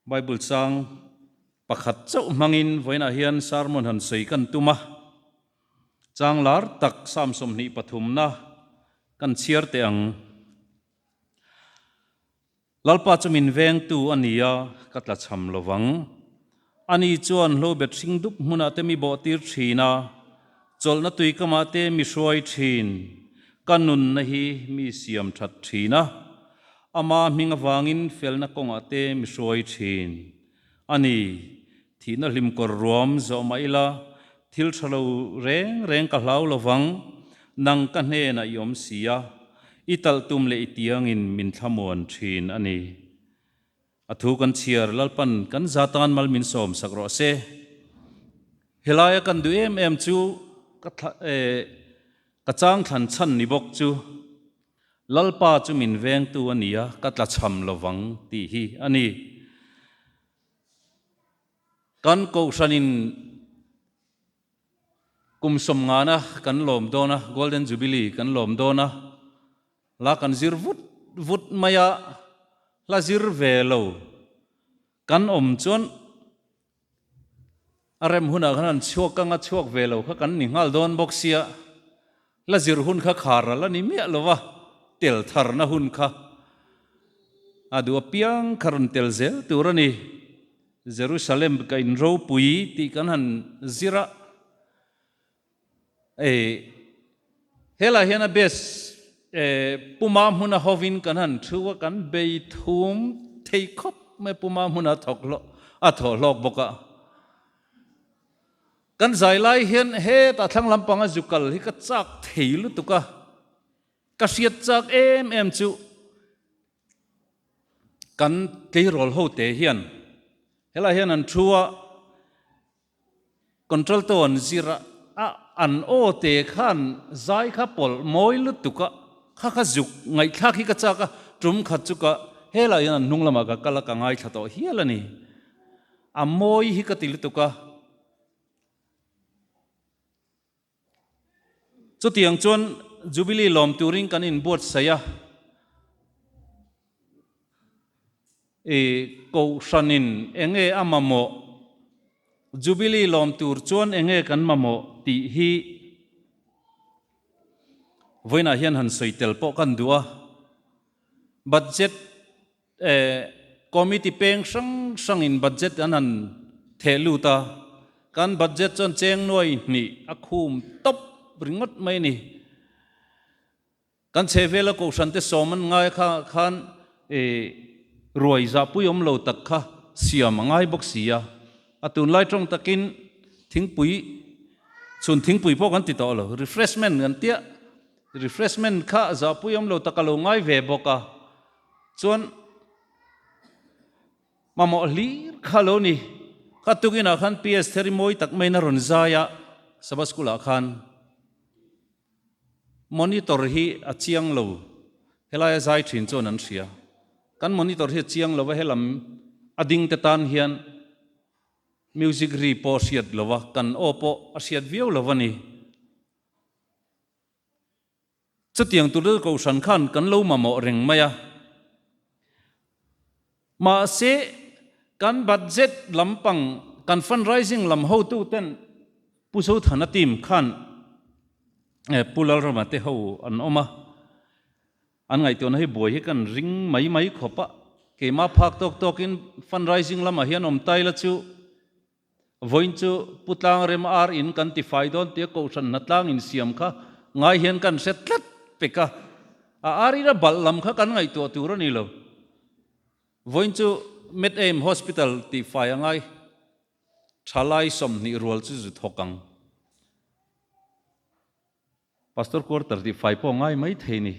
Bible chang pakhat chauh hmangin vawiinah hian sermon han sawi kan tum a. Chang lar tak Psalm sawmhnih pathumna kan chhiar teh ang. Lalpa chu min vengtu a nia ka tla chham lovang. Ani chuan hlo bet hring dup hmunah te mi bawhtir thin a, chawlhna tuikamah te mi hruai thin, ka nunna hi mi siam that thin a, ama hming avangin felna kawngah te mi hruai thin. Ani thihna hlim kawr ruam zawh mah ila thil tha lo reng reng ka hlau lo vang, nang ka hnenah i awm si a, i talh tum leh i tiangin min thlamuan thin a ni. A thu kan chhiar Lalpan kan za tan mal min sawm sak rawh se. Helai a kan duh em em chu ka thla eh ka chang thlan chhan ni bawk chu Lalpa chu min veng tu a nia ka tla chham lo vang tih hi a ni. Kan kohhran in kum sawm ngana kan lawm dawn a, Golden Jubilee kan lawm dawn a, Hla kan zir vut vut mai a, hla zir ve lo kan awm chuan a rem hunah khan an chhuak kang a, chhuak ve lo kha kan ni nghal dawn bawk sia, hla zir hun kha kharral a ni miah lo va, tel tharna hun kha a duh apiang kha rawn tel zel tur a ni. Jerusalem ka in ropui tih kan han zir a, Ei, he lah hian a best eh, puma hmuna hovin kan han thu a, kan beithum thei khawp mai, puma hmuna a thawk hlawk, a thawh hlawk bawk a. Kan zai lai hian hetah thlang lampanga zu kal hi ka chak thei lutuk a, ka hriat chak em em chu kan tleirawl hote hian, he lah hian an thu a, Control te awn zir a, a an aw te khan zai kha pawlh mawi lutuk a, kha kha zuk ngaihthlak hi ka chak a, tum khat chu ka he lah in an hnung lamah ka kal a, ka ngaithla tawh hial a ni. A mawi hi ka ti lutuk a. Chutiang chuan Jubilee lawm turin kan in buatsaih a, i kohhran in enge a mamawh, Jubilee lawm tur chuan enge kan mamawh tih hi vawiinah hian han sawi tel pawh kan duh a, budget, Committee peng hrang hrangin budget an han theh lut a, kan budget chuan chengnuai hnih a khum tawp ringawt mai a ni. Kan chhehvela Kohrante Sawman ngai kha khan ruai zahpui awm lo tak kha siam a ngai bawk si a, a tunlai tawng takin thingpui chhun thingpui pawh kan ti tawh lo, refreshment kan tia refreshment kha zahpui awm lo tak a lo ngai ve bawk a. Chuan mamawh hlir kha lo ni. Ka tukinah khan PS thar i mawi tak maiin a rawn zai a, Sabbath School ah khan Monitor hi a chiang lo, helai a zai thin chuan an hria. Kan Monitor hi a chiang lo a, he lam a ding te tan hian Music ri pawh a hriat lo a, kan aw pawh a hriat viau lo a ni. Chutiang Tulrel Kohhran khan kan lo mamawh reng mai a, mahse kan budget lampang kan fundraising lam hotu ten Pu Sothana team khan eh Pu Lalrama te ho an awm a, an ngaihtuahna hi buai hi kan ring mai mai khawp a, keimah phak tawk tawkin fundraising lamah hian awm taila chu Vawiin chu Pu Tlang rem ar in kan ti fai dawn tia Kohhran hna tlang in siam kha ngai hian kan hre tlat pek a, a ar ira balh lam kha kan ngaihtuah tur a ni lo. Vawiin chu Med Aim Hospital tih fai a ngai tha lai sawmhnih rual chu zu thawk ang. Pastor quarter tih fai pawh ngai mai thei ni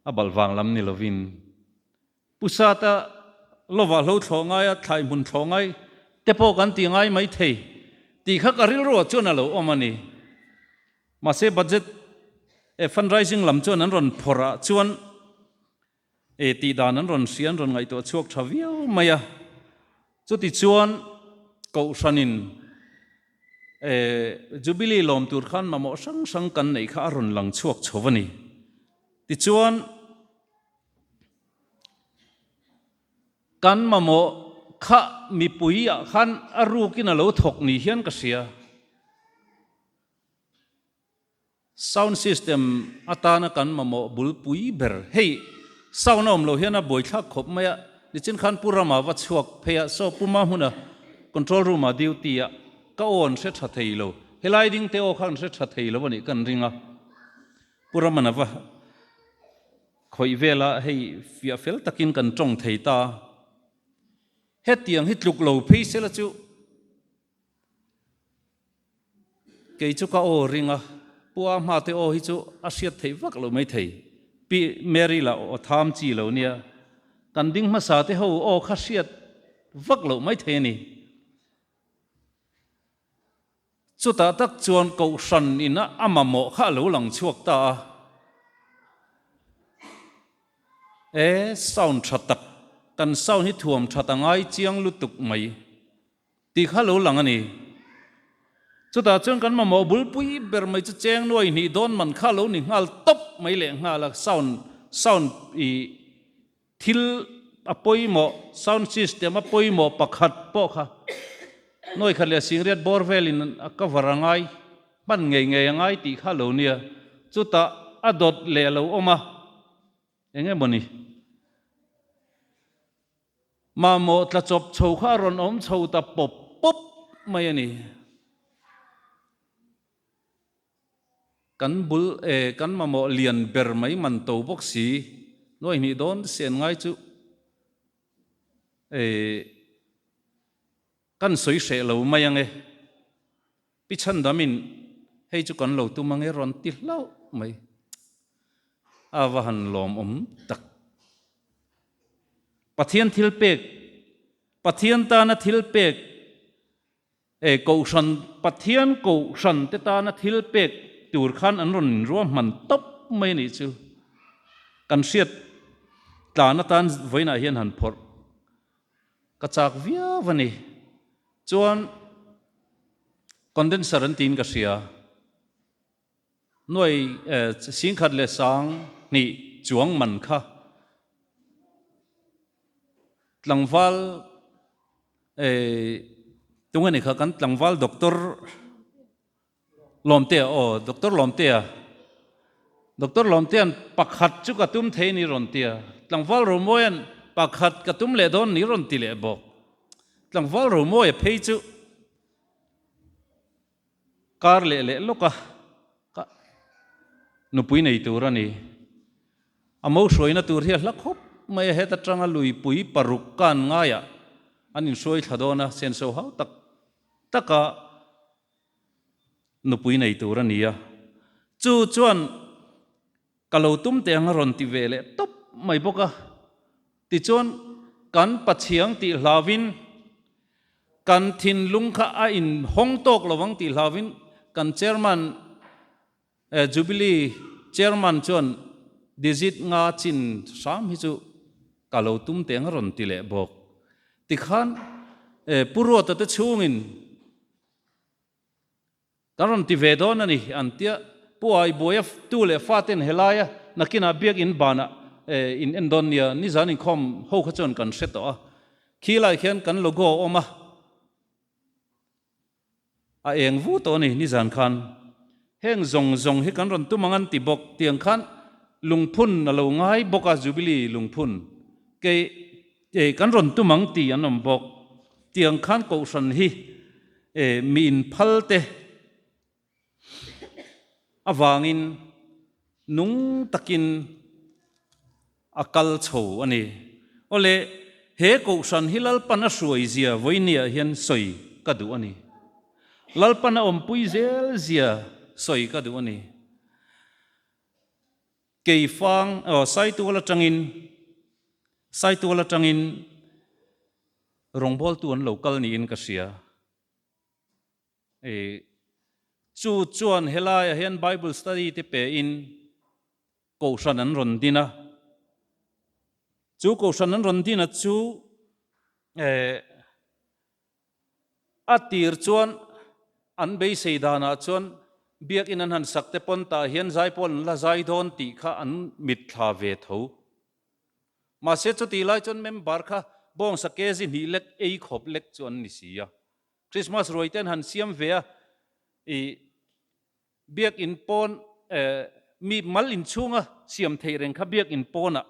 a balh vang lam ni lovin pusata lova hlo thlawh ngai a thlai hmun thlawh ngai te pawh kan ti ngai mai thei tih kha ka rilru ah chuan a lo awm a ni mahse budget eh fundraising lam chuan an rawn phawrh ah chuan E tih dan an rawn hria an rawn ngaihtuah chhuak tha viau mai a, chutichuan Kohhranin e Jubilee lawm tur khan mamawh hrang hrang kan neih kha a rawn lang chhuak chho a ni. Tichuan kan mamawh kha mipui ah khan a rukin a lo thawk ni hian ka hria. Sound system atana kan mamawh bul pui ber. Hei sound a awm lo hian a buai thlak khawp mai a, nichin khan pu ramah va chhuak phei a, so puma hmuna control room ah duty ah ka aw an hre tha thei lo, helai ding te aw kha an hre tha thei lo anih kan ring a, pu raman a va khawih vel a hei fiah fel takin kan tawng thei ta, hetiang hi tluk lo phei sela chu Kei chu ka aw ring a, Pu a hma te aw hi chu a hriat theih vak lo mai thei. Pi, Mary la aw tham chi lo nia, kan ding hmasa te ho aw kha hriat vak lo mai thei a ni. Chutah tak chuan Kohhran in a a mamawh kha a lo lang chhuak ta a. E, sound tha tak, kan sound hi thuam tha ta ngai chiang lutuk mai. Tih kha lo lang a ni. Chutah chuan kan mamawh bul pui ber mai chu cheng nuai hnih dawn man kha lo ni nghal tawp mai leh nghal a, sound sound ih thil a pawimawh sound system a pawimawh pakhat pawh kha nuai khat leh singriat bawr vel in a cover a ngai hman ngei ngei a ngai tih kha lo nia. Chutah a dawt leh lo awm a, eng emaw ni. Mamawh tla chawp chho kha a rawn awm chho ta pawp pawp mai a ni. Kan bul e, kan mamawh lian ber mai man to bawk si. Nuai hnih dawn se an ngai chu. Eii. Kan sawi hreh lo mai ange. Pi Chandam in hei chu kan lo tum ange rawn ti hlauh mai. A va han lawm awm tak. Pathian thil pek, Pathian tana thil pek, eh, Kohhran, Pathian Kohhran te tana thil pek tur khan an rawn inruah hman tawp mai anih chu. Kan hriat tlan atan vawiinah hian han phawrh. Ka chak viau a ni. Chuan condenser an tiin ka hria. Nuai Singkhat leh Sang hnih chuang man kha tlangval tunge ni kha kan tlangval doctor Lawmtea aw, Doctor Lawmtea, Doctor Lawmtea'n pakhat chu ka tum thei ni rawn ti a, Tlangval Romawia'n pakhat ka tum leh dawn ni rawn ti leh bawk. Tlangval Romawia phei chu kar leh leh lawka ka nupui nei tur a ni. A mo hruaina tur hi a hla khawp mai a, heta tanga luipui paruk kan ngaiah an inhruaithla dawn a, senso hau tak taka nupui nei tur a ni a, chu chuan ka lo tum teh ang a rawn ti ve leh tawp mai bawk a, tichuan kan pachiang tih hlauhin kan thinlung kha a in hawng tawk lo ang tih hlauhin kan chairman eh jubilee chairman chuan digit nga chin hram hi chu ka lo tum teh ang a rawn ti leh bawk, tikhan eh pu Ruata te chhungin. Kan rawn ti ve dawn a ni, an tia. Pu Ai Buaia tu leh fa ten he laia nakinah biakinn banah in en dawn nia, nizan inkhawm ho kha chuan kan hre tawh a, khi lai khian kan logo a awm a, a eng vu tawh a ni, nizan khan heng zawng zawng hi kan rawn tum ang an ti bawk, tiang khan lungphun a lo ngai bawk a, Jubilee lungphun kei. E, kan rawn tum ang tih an awm bawk. Tiang khan Kohhran hi e mi inphalte avangin nung takin a kal chho a ni. Awle he Kohhran hi Lalpan a hruai zia vawinia hian sawi ka duh a ni. Lalpan a awmpui zel zia sawi ka duh a ni. Kei fang aw saitual atangin saitual atangin rawngbawltu an lo kal niin ka hria e. Chu chuan helaiah hian Bible study te pehin Kohhran an rawn din a. Chu Kohhran an rawn dinah chu e A tir chuan an beisei danah chuan biakinn an han sakte pawn tah hian Zaipawl an la zai dawn tih kha an mit thla ve tho. Mahse chutih lai chuan member kha bawngsa kg hnih lek ei khawp lek chu an ni si a. Christmas ruaite an han siam ve a, ih, Biakinn pawn mi mal inchhunga siam theih reng kha biakinn pawnah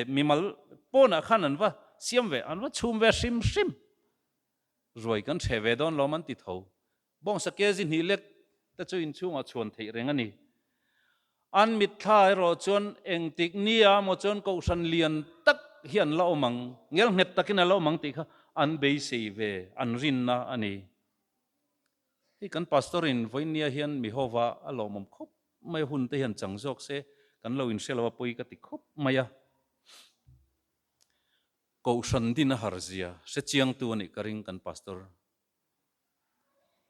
mi mal pawnah khan an va siam ve, an va chhum ve a hrim hrim. Ruai kan chhe ve dawn lawm an ti tho. Bawngsa Kezi Hnihlek te chu inchhungah chhuan theih reng a ni. An mitthla erawh chuan engtik nia maw chuan kohhran lian tak hi an la awm ang, ngelnghet takin a la awm ang tih kha an beisei ve an rinna a ni. Hei kan Pastor in vawinia hian mi hova a lawmawm khawp mai a hun te hian chang zawk se kan lo in hrelo a pawi ka ti khawp mai a Kohhran din a har zia hrechiang tu anih ka ring kan Pastor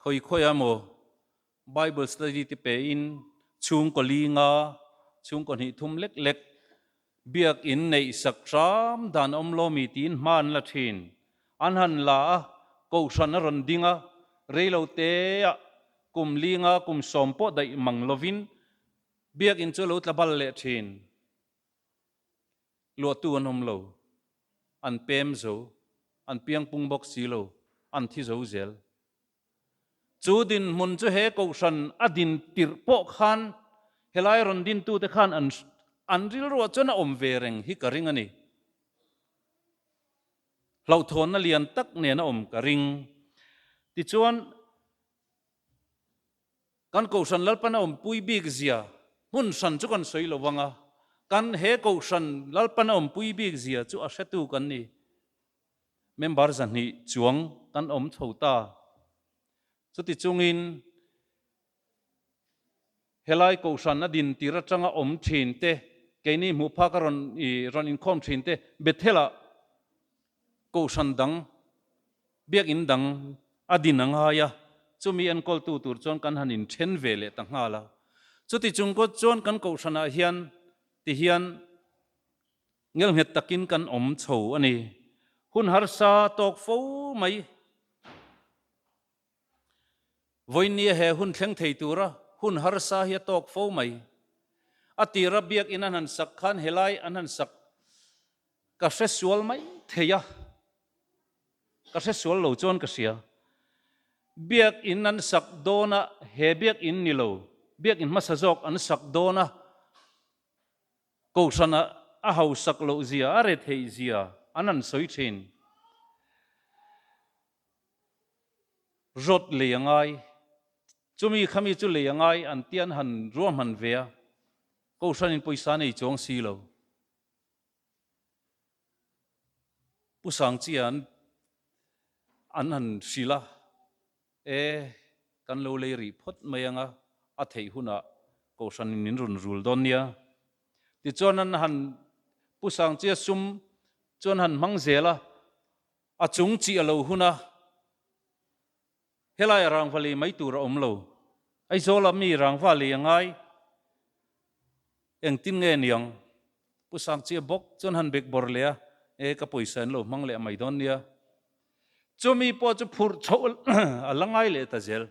khawi khawi a maw Bible study te pe in chhungkaw linga chhungkaw hnih thum lek lek Biak in neih sak ṭam dan awm law mi tiin hma an la ṭhin. An han la a, kohhran a rawn ding a, rei lo te ah kum linga kum sawm pawh daih mang lovin biak in chu lo tla bal leh ṭhin. Luahtu an awm lo, an pem zo, an piangpung bawk si lo, an thi zo zel. Chu dinhmun chu he Kohhran a din tirh pawh khan helai rawn dintute khan an an rilruah chuan a awm ve reng hi ka ring a ni. Hlauhthawnna lian tak nena awm ka ring. Tichuan, kan Kohhran Lalpan a awmpui bik zia hmun hran chu kan sawi lo vang a, kan he Kohhran Lalpan a awmpui bik zia chu a hretu kan ni. member zahnih chuang kan awm tho ta. Chuti chungin helai Kohhran a din tir atanga awm thin te, keini hmuh phak a rawn i rawn inkhawm thin te Bethela Kohhran dang, Biakinn dang a din a ngai a, chumi enkawltu tur chuan kan han inthen ve leh ta nghal a. Chuti chung kawt chuan kan Kohhranah hian tihian Ngelnghet takin kan awm chho a ni. Hun harsa tawk fo mai. Vawinia he hun thleng thei tura hun harsa hi a tawk fo mai. A tira biakin a hnan sak khan helai a hnan sak ka hre sual mai thei a. Ka hre sual lo chuan ka hria. Biakin an sak dawnah he biakin ni lo, biakin hmasa zawk an sak dawn a. Kohhrana a hausak loh zia, a retheih zia an han sawi thin. Rawt lei a ngai. Chumi kha mi chu lei a ngai an tia an han ruahman ve a. Kohhranin pawisa nei chuang si lo. Pu Sangchia an han hrilh a. E, kan lo lei rih phawt mai anga a theih hunah kohhranin min run rul dawn nia. Tichuan an han Pu Sangchia Sum chuan han hmang zel a, a chung chih a lo hun a, Helai a rangva lei mai tur a awm lo. Aizawl a mi rangva lei a ngai. Engtin nge niang? Pu Sakchi a bawk chuan han bek bawr leh a, E, ka pawisa in lo hmang leh mai dawn nia. Chumi pawh chu phurh chhoh a la ngai leh ta zel.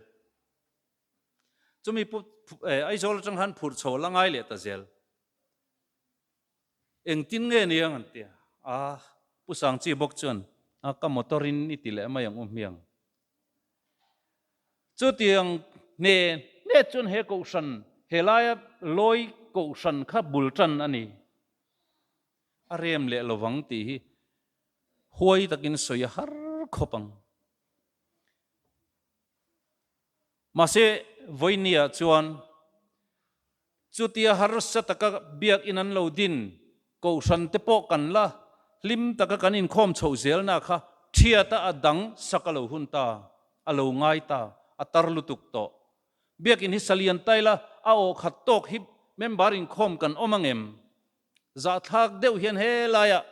Chumi pawh e, Aizawl atang khan phurh chhoh a la ngai leh ta zel. Engtin nge niang? an ti a. A, Pu Sangchi a bawk chuan, A, ka motor in i ti leh mai ang u hmiang. Chutiang hne hne chuan he kohhran he laia lawi kohhran kha bul tan a ni. A rem leh lo vang tih hi huai takin sawi a har khawp ang. Mahse, Vawini-ah chuan. Chutia harsa taka biak in an lo din, Kohhran te pawh kan la, hlim taka kan inkhawm chhoh zel na kha thiata a dang sak a lo hun ta, a lo ngai ta, a tar lutuk tawh. Biak in hi Salian Taila a awhkhat tawk hi member inkhawm kan awm angem? Zahthlak deuh hian he laia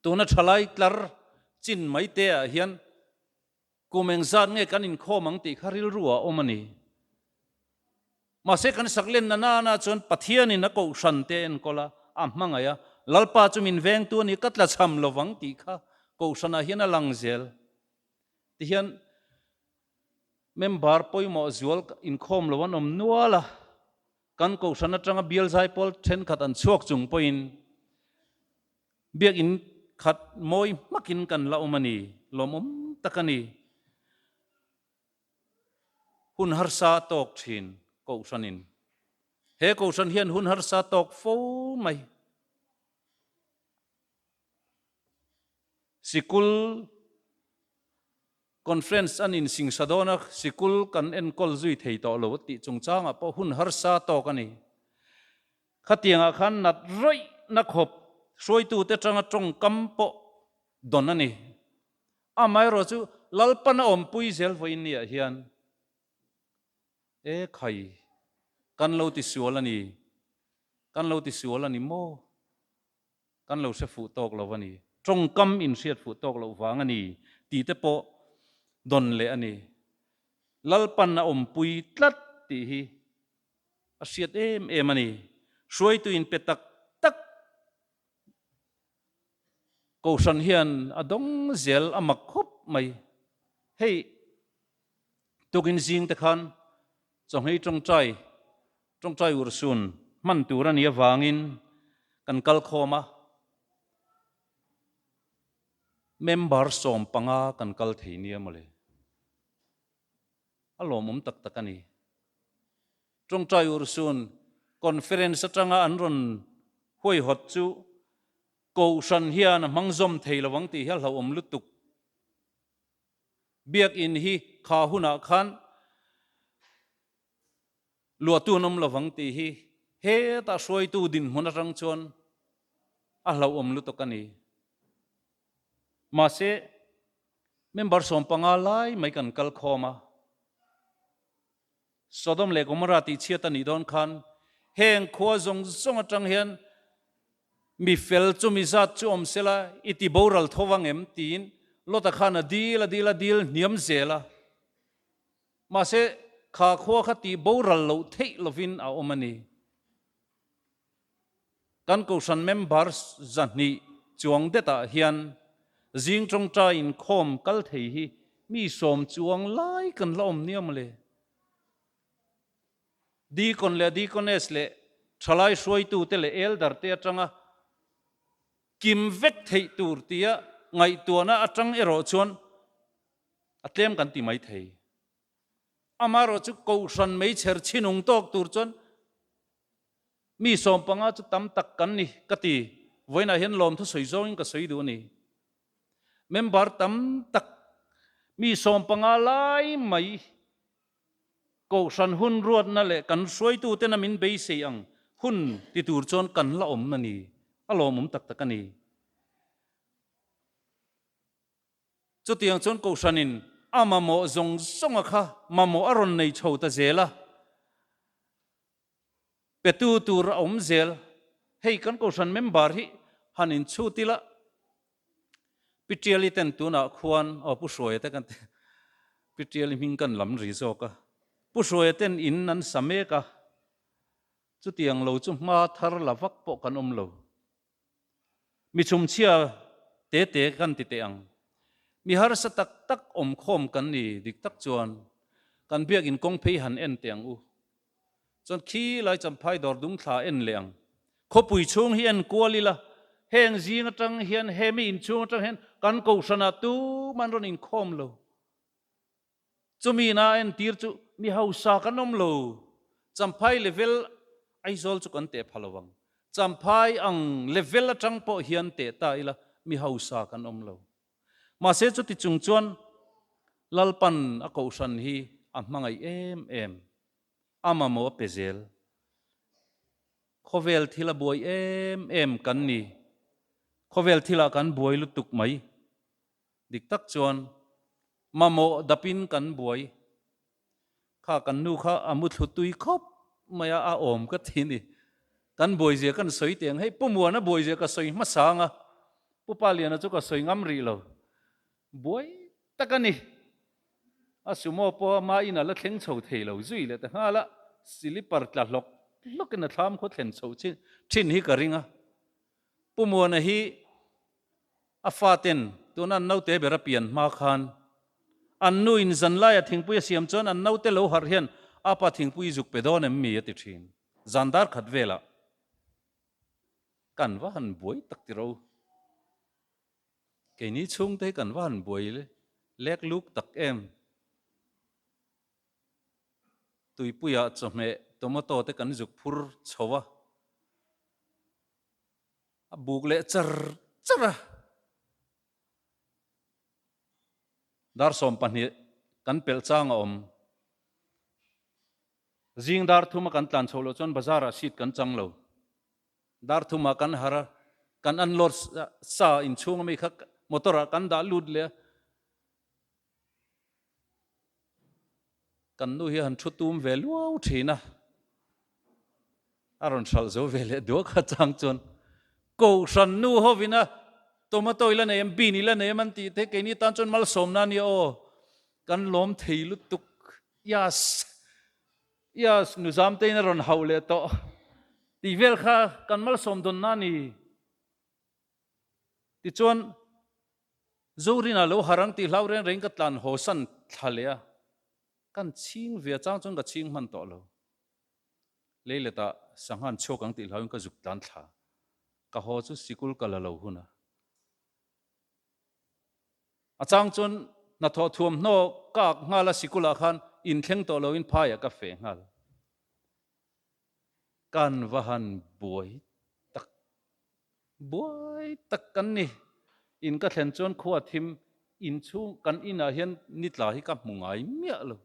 tuna thalai tlar chin mai te ah hian, Kum eng zat nge kan inkhawm ang tih kha rilru a awm a ni. Mahse kan saklenna nana chuan Pathianin a kohhran te a enkawl a, a hmangaih a, Lalpa chu min vengtu a ni, ka tla chham lo vang tih kha kohhranah hian a lang zel. Tihian member pawimawh zual inkhawm lo an awm nual a, Kan kohhran atanga bialzai pawl thenkhat an chhuak chung pawhin biakinn khat mawi hmakin kan la awm a ni. Lawmawm tak a ni. Hun harsa a tawk thin kohhranin. He kohhran hian hun harsa a tawk fo mai. Sikul. Conference an insingsha dawn a, sikul kan enkawl zui thei tawh lo tih chungchangah pawh hun harsa tawk a ni. Khatiangah khan nat rawihna khawp hruaitute tanga tawngkam pawh dawn a ni. Amaherawh chu Lalpan a awmpui zel vawi ni ah hian Ee khai, kan lo ti sual a ni, kan lo ti sual a ni maw? Kan lo hre fuh tawk lo a ni. Tawngkam in hriat fuh tawk loh vang a ni tih te pawh dawn leh a ni. Lalpan a awmpui tlat tih hi a hriat em em a ni. Hruaitu in pe tak tak Kohhran hian a dawng zel a mak khawp mai. Hei, tukin zingte khan Chawngei Tawngtai Tawngtai Ursun hman tur a nih avangin kan kal khawm a, member sawm panga kan kal thei nia mawle. A lawmawm tak tak a ni. Tawngtai Ursun conference atanga an rawn huaihawt chu Kohhran hian a hmangzawm thei lo ang tih hi a hlauhawm lutuk. Biak in hi kha hunah khan. Luatu an awm lovang tih hi hetah hruaitu dinhmun atang chuan a hlauhawm lutuk a ni. Mahse, member sawm panga lai mai kan kal khawm a. Sodom leh Gomorrah tih chhiat a nih dawn khan heng khua zawng zawng atang hian mi fel chumi zat chu awm sela i ti boral tho vang em? tiin Lota khan a dil a dil a dil hniam zel a. Mahse, kha khua kha tih boral loh theih lovin a awm a ni. Kan Kohhran members zahnih chuang detah hian zing tawngtai inkhawm kal thei hi mi sawm chuang lai kan la awm nia maw le? Deacon leh Deaconess leh thalai hruaitute leh Elder te atanga kim vek theih tur tia ngaihtuahna atang erawh chuan A tlem kan ti mai thei. Amaherawh chu Kohhran meichher chinung tawk tur chuan mi sawm panga chu tam tak kan ni ka ti. Vawiinah hian lawmthu sawi zawngin ka sawi duh a ni. Member tam tak mi sawm panga lai mai Kohhran hun ruatna leh kan hruaitutena min beisei ang hun ti tur chuan kan la awmna ni. A lawmawm tak tak a ni. Chutiang chuan kohhranin a mamawh zawng zawnga kha mamawh a rawn nei tho ta zel a, petu tur a awm zel. Hei kan kohhran member hi han inchhut ila, Pi Tiali ten tunah khuan, aw Pu Hruaia te kan ti a, Pi Tiali hming kan lam ri zawk a, Pu Hruaia ten in an sa mek a, chutiang lo chu hma thar la vak pawh kan awm lo. Mi chhumchhia te te kan ti teh ang. Mi harsa tak tak awm khawm kan ni dik tak chuan kan biakin kawng phei han en teh ang u. Chuan khi lai champhai dawr dung thla en leh ang. Khawpui chhung hi en kual ila, heng zing atang hian, he mi inchhung atang hian kan kohrana tum an rawn inkhawm lo. Chumi na entir chu mi hausa kan awm lo, champhai level Aizawl chu kan teh pha lo vang, champhai ang level atang pawh hian teh ta ila mi hausa kan awm lo. Mahse chuti chung chuan Lalpan a kohhran hi a hmangaih em em, a mamawh a pe zel, khawvel thil a buai em em kan ni, khawvel thilah kan buai lutuk mai. Dik tak chuan, Mamawh dapin kan buai kha kan nu kha a muthlû tui khawp mai a, a awm ka ti ni. Kan buaizia kan sawi teh ang, hei Pu Muana buaizia ka sawi hmasa ang a, Pu Paliana chu ka sawi ngam rih lo. Buai tak a ni. A sumo pawha ma in a la thleng chho thei lo zui leh ta nghal a, silipar tla hlawk hlawkin a thlam khaw thlen chho thin hi ka ring a. Pu Muana hi a faten tun an naute ber a pian hma khan an nu in zanlaia thingpui a siam chuan an naute lo harh hian apa thingpui i zuk pe dawn em mi a ti thin. Zan dar khat velah kan va han buai tak tiro. Keini chhungte hi kan va han buai lek luk tak em. Tuipuia chawhmeh tomato te kan zuk phur chho a, a buk leh char char a. Dar sawm pahnih kan pelh chang a awm. Zing dar thum a kan tlan chhoh loh chuan bazar ah seat kan chang lo. Dar thum ah kan har a, kan unload sa inchhung ami kha motor ah kan dah lut leh a. Kan nu hi han thu tum ve luau thin a, a rawn hralh zo ve leh duak a chang chuan Kohhran nu ho vin a tomato ila nei em bean ila nei em an tih theih keini tan chuan malsawmna a nia aw kan lawm thei lutuk ias ias nuzam tein a rawn hauh leh tawh tih vel kha kan malsawm dawnna a ni tichuan Zorinah lo harh ang tih hlau reng rengin ka tlan haw san thla leh a, kan chhing ve a chang chuan ka chhing hman tawh lo. Leiletah sangha an chhuak ang tih hlauin ka zuk tlan thla. Ka haw chu sikul ka la lo hun a. A chang chuan hnathawh thuamhnaw ka ak nghal a, sikulah khan inthleng tawh loin phaiah ka feh nghal. Kan va han buai tak buai tak kan ni. In ka thlen chuan khua thim in chhung kan inah hian ni tla hi ka hmu ngai miah lo.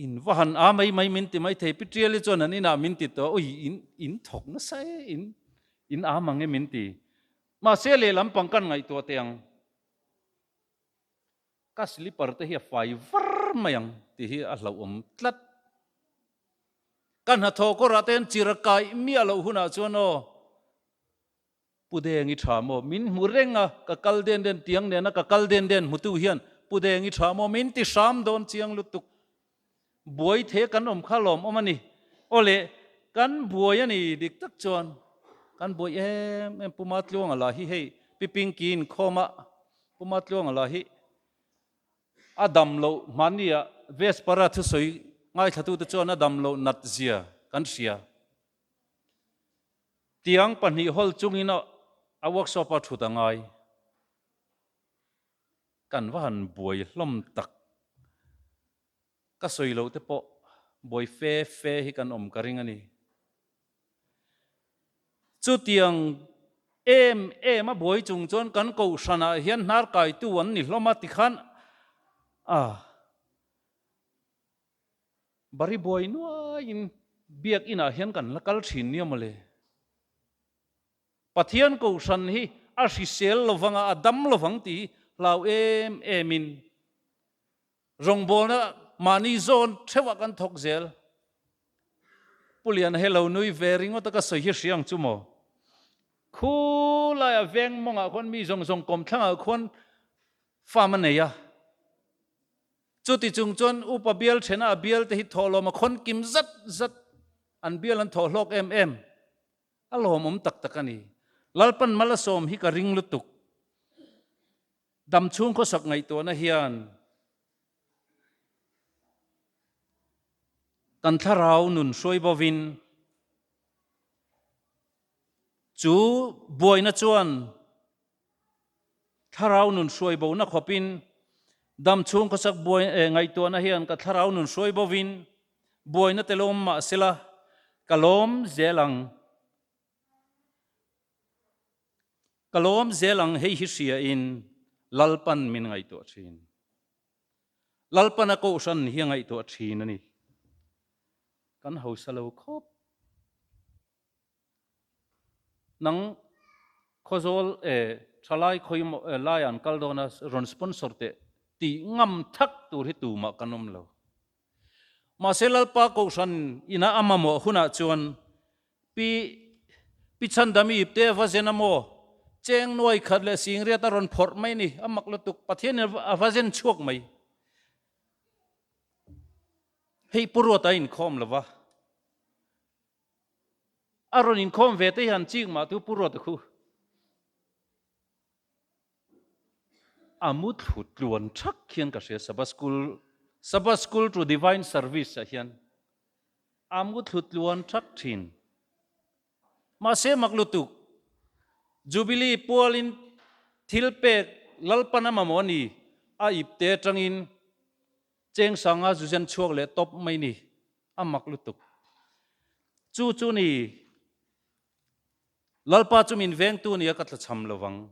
In va han a mai mai min ti mai thei. Pi Tial hi chuan an inah min ti tawh a, ui in in thawk nasa e, in in a mang e min ti. Mahse lehlam pang kan ngaihtuah teh ang. Ka slipper te hi a fai var mai ang tih hi a hlauhawm tlat. Ka hnathawh kawrah te hian chir a kai miah loh hunah chuan aw Pu Deng i tha maw min hmu reng a, ka kal den den tiang nena ka kal den den hmutu hian Pu Deng i tha maw min ti hram dawn chiang lutuk. Buai the kan awm kha lawm awm a ni. Aw le, kan buai a ni dik tak chuan kan buai em em. Puma Tluanga lah hi hei Pi Pinky in khawma Puma Tluanga lah hi a dam loh hmania Vespara thusawi ngaithla-tu te chuan a dam loh nat zia kan hria. Tiang pahnih hawl chungin a workshop a thut a ngai. Kan va han buai hlawm tak. Ka sawi loh te pawh buai fe fe hi kan awm ka ring a ni. Chutiang em em a buai chung chuan kan kohhranah hian hnarkaitu an ni hlawm a ti khan ah bari buai nuaiin biak inah hian kan la kal thin nia mawle. Pathian Kohhran hi a hrisel lo vang a, a dam lo vang tih hi hlau em em in rawngbawlna mahni zawn theuhah kan thawk zel. Pu Liana he lo nui ve ringawta ka sawi hi hria ang chu maw? Khu laia veng mawngah khuan mi zawng zawng kawm thlangah khuan farm a nei a. Chuti chung chuan upa bial thena a bialte hi thawhlawma khawn kim zat zat an bial an thawh hlawk em em. A lawmawm tak tak a ni. Lalpan Malasawm hi ka ring lutuk. Dam chhung khawsak ngaihtuahna hian kan thlarau nun hruai bawvin chu buaina chuan Thlarau nun hruai bo na khawp in dam chhung khaw chak buai eh ngaihtuah na hian ka thlarau nun hruai bo in buai na telawm mah se la ka lawm zel ang ka lawm zel ang hei hi hria in Lalpan min ngaihtuah thin Lalpan a kohhran ni hi a ngaihtuah thin a ni kan hausa lo khawp. Nang khawzawl e, thalai khawi mawh e, laia an kal dawn a, rawn sponsor teh tih ngam thlak tur hi tumah kan awm lo. Mahse Lalpa Kohhran ina a mamawh hunah chuan Pi Pi Chhandami te va zen a maw? Cheng nuai khat leh singriat a rawn phawrh mai ni, a mak lutuk. Pathianin a va zen chhuak mai. Hei pu ruata a inkhawm lo va. A rawn inkhawm ve te hian chik mah tu purut a khu. A mutthlu tluan thak hian ka hria Sabbath School, Sabbath School to Divine Service ah hian a mutthlu tluan thak thin. Mahse mak lutuk Jubilee pualin thilpek Lalpana mamawh a ni a ipte atangin Cheng sanga Zuzen chhuak leh tawp mai ni a mak lutuk. Chu chu ni Lalpa chu min vengtu nia ka thlacham lovang.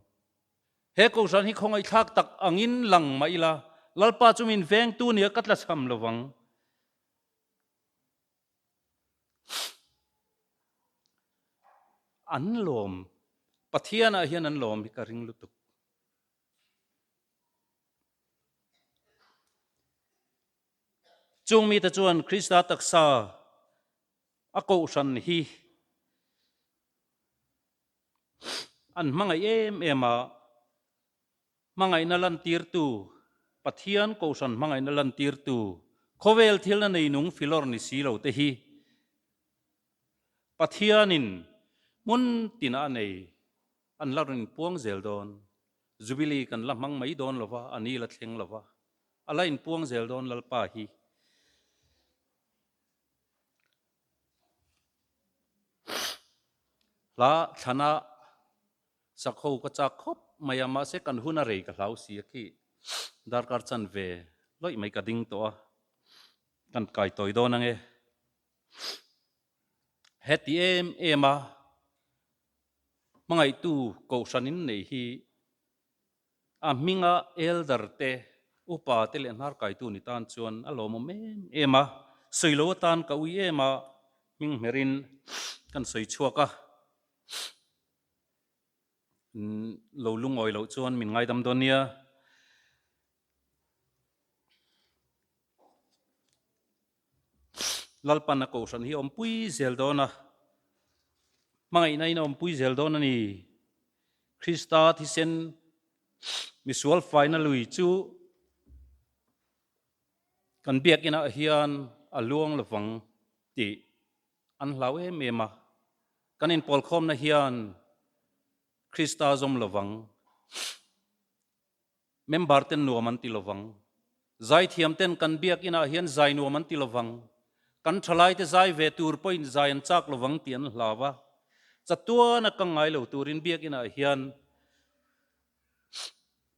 He kohhran hi khawngaihthlak tak angin lang mah ila Lalpa chu min vengtu nia ka thlacham lovang. An lawm, Pathianah hian an lawm hi ka ring lutuk. Chung mi te chuan Krista taksa a kohhran hi an hmangaih em em a, hmangaihna lantirtu Pathian kohhran hmangaihna lantirtu khawvel thilna nei nung Philor ni si lo te hi Pathianin hmun tina a nei. An la rin puang zel dawn. Jubilee kan la hmang mai dawn lova, a ni la thleng lova. A la in puang zel dawn Lalpa hi. Hla thlana sakho ka chak khawp mai a, mahse kan hun a rei ka hlau si a khi. Darkar chan ve loih mai ka ding tawh a, kan kai tawi dawn ange. Heti em em a hmangaihtu kohhran in nei hi a hminga Elder te, Upa te leh Hnarkaitu ni tan chuan a lawmawm em em a, sawi lo atan ka ui em a, hming hmer in kan sawi chhuak a, min lo lungawi loh chuan min ngaidam dawn nia. Lalpanna kohhran hi awmpui zel dawn a, hmangaihna in a awmpui zel dawn a ni. Krista thisen misual faina lui chu kan biakinah hian a luang lovang tih an hlau em em a. Kan inpawlkhawmna hian Krista zawm lovang. Member ten nuam an ti lovang. Zaithiam ten kan biakinn ah hian zai nuam an ti lovang. Kan thalai te zai ve tur pawhin zai an chak lovang tih an hlau a. Chatuan a kang ngai lo turin biakinn ah hian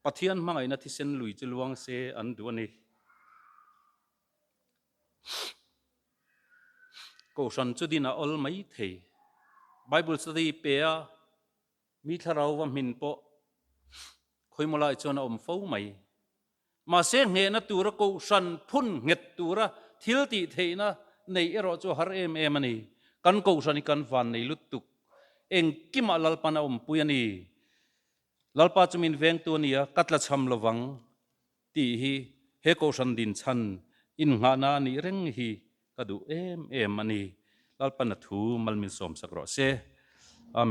Pathian hmangaihna thisen lui chu luang se an duh a ni. Kohhran chu din a awl maithei. Bible study pe a, Mi thlarauva hmin pawh Khawimawlai chuan a awm fo mai. Mahse nghehna tura kohhran phun nghet tura thil tih theihna neih erawh chu a har em em a ni. Kan kohhran hi kan van nei lutuk. Engkimah Lalpan a awmpui a ni. Lalpa chu min vengtu a nia, ka tla chham lo vang tih hi he kohhran din chhan innghahna a nih reng hi ka duh em em a ni. Lalpan a thu mal min sawmsak rawh se. Amen.